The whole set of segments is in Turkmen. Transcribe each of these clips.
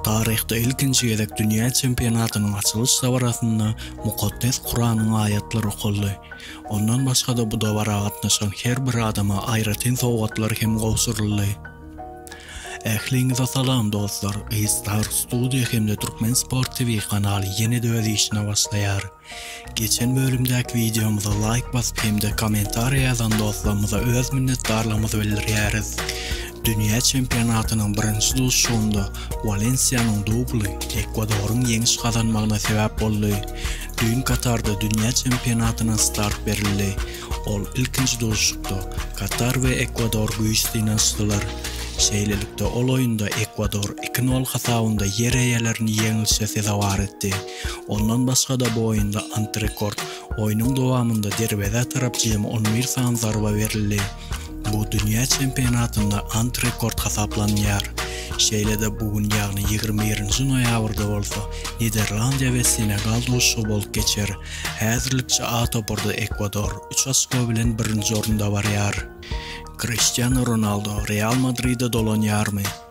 Taryhda ilkinji gezek dünýä çempionatynyň açylyş dabarasynda Mukaddes Kuranyň aýatlary okaldy. Ondan başga-da bu dabara gatnaşan her bir adama aýratyn sowgatlar hem gowşuryldy. Ähliňize salam dostlar! G-Star Studio hem-de Türkmen Sport TV kanaly ýene-de öz işine başlaýar. Geçen bölümdäki wideomyza laýk basyp hem-de kommentariýa ýazan dostlarymyza öz minnetdarlygymyzy bildirýäris. Dünýä çempionatynyň birinji duşuşygynda Walensiýanyň dubly Ekwadoryň ýeňiş gazanmagyna sebäp boldy. Düýn Katarda dünýä çempionatyna start berildi. Ol ilkinji duşuşykda Katar we Ekwador güýç synanyşdylar. Şeýlelikde, ol oýunda Ekwador iki nol hasabynda ýer eýelerini ýeňlişe sezewar etdi. Ondan başga-da bu oýunda antirekord. Oýnuň dowamynda derwezä tarap jemi on bir sany zarba berildi. Bu dünýä çempionatynda antirekord hasaplanýar. Şeýle-de bu gün ýagny ýigrimi birinji noýabrda bolsa Niderlandiýa we Senegal duşuşygy bolup geçer. Häzirlikçe A topary-da Ekwador üç oçko bilen birinji orunda barýar. Kriştianu Ronaldo Real Madride dolanýarmy?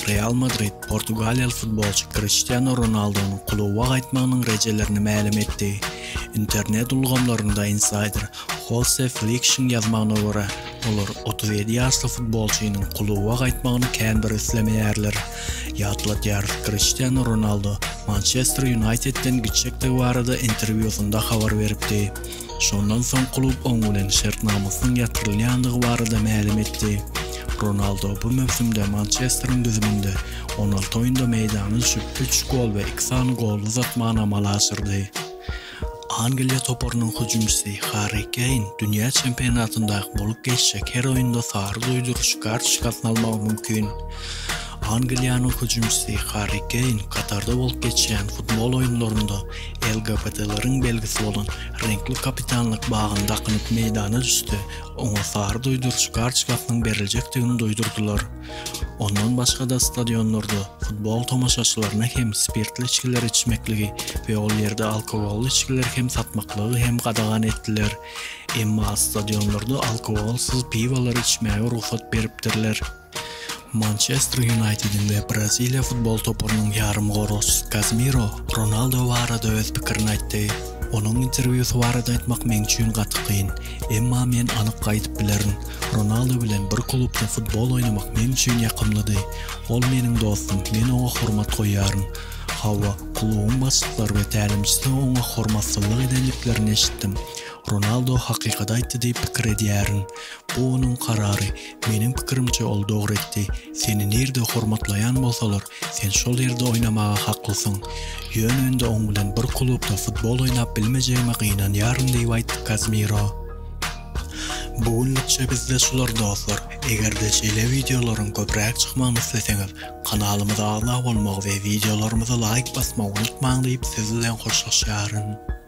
Real Madrid portugaliýaly futbolçy Kriştianu Ronaldonyň kluba gaýtmagynyň rejelerini mälim etdi. Internet ulgamlarynda insaýder Hose Flikşiň ýazmagyna görä, olar otuz ýedi ýaşly futbolçynyň kluba gaýtmagyny kän bir islemeýärler. Ýatladýarys, Kriştianu Ronaldo Mançester Ýunaýtedden gitjekdigi barada interwýusynda habar beripdi. Şondan soň klub oň bilen şertnamasynyň ýatyrylýandygy barada mälim etdi. Ronaldo bu möwsümde Mançesteriň düzüminde on alty oýunda meýdana düşüp, üç gol we iki sany golly uzatmany amala aşyrdy. Angliýa toparynyň hüjümçisi Harri Keýn dünýä çempionatyndaky bolup geçjek her oýunda sary duýduryş kartoçkasyny almagy mümkin. Angliýanyň hüjümçisi Harri Keýn Katarda bolup geçýän futbol oýunlarynda LGBTlaryň belgisi bolan reňkli kapitanlyk bagyny dakynyp meýdana düşse, oňa sary duýduryjy kartoçkasynyň beriljekdigini duýdurdylar. Ondan başga-da stadionlarda futbol tomaşaçylaryna hem spirtli içgileri içmekligi we ol ýerde alkogolly içgileri hem satmaklygy hem gadagan etdiler. Emma stadionlarda alkogolsyz piwolary içmäge rugsat beripdirler. Mançester Ýunaýtediň we Braziliýa futbol toparynyň ýarymgoragçysy Kazmiro Ronaldo barada öz pikirini aýtdy, Onuň interwýusy barada aýtmak meň üçin gaty kyn. Emma men anyk aýdyp bilerin, Ronaldo bilen bir klubda futbol oýnamak meň üçin ýakymlydy. Ol meniň dostum, men oňa hormat goýýaryn. Hawa, klubuň başlyklary we tälimçisi oňa hormatsyzlyk edendiklerini eşitdim. Ronaldo hakykady aýtdy diýip pikir edýärin. Bu onuň karary. Meniň pikirimçe ol dogry etdi. Seni nirde hormatlaýan bolsalar, sen şol ýerde oýnamaga haklysyň. Ýöne indi oň bilen bir klubda futbol oýnap bilmejegime gynanýaryn diýip aýtdy Kazmiro. Bu günlükçe bizde şular dostlar, egerde şeýle wideolaryň köpräk çykmagyny isleseňiz, kanalymyza agza bolmagy we wideolarymyza laýk basmagy unutmaň diýip siz bilen hoşlaşýaryn.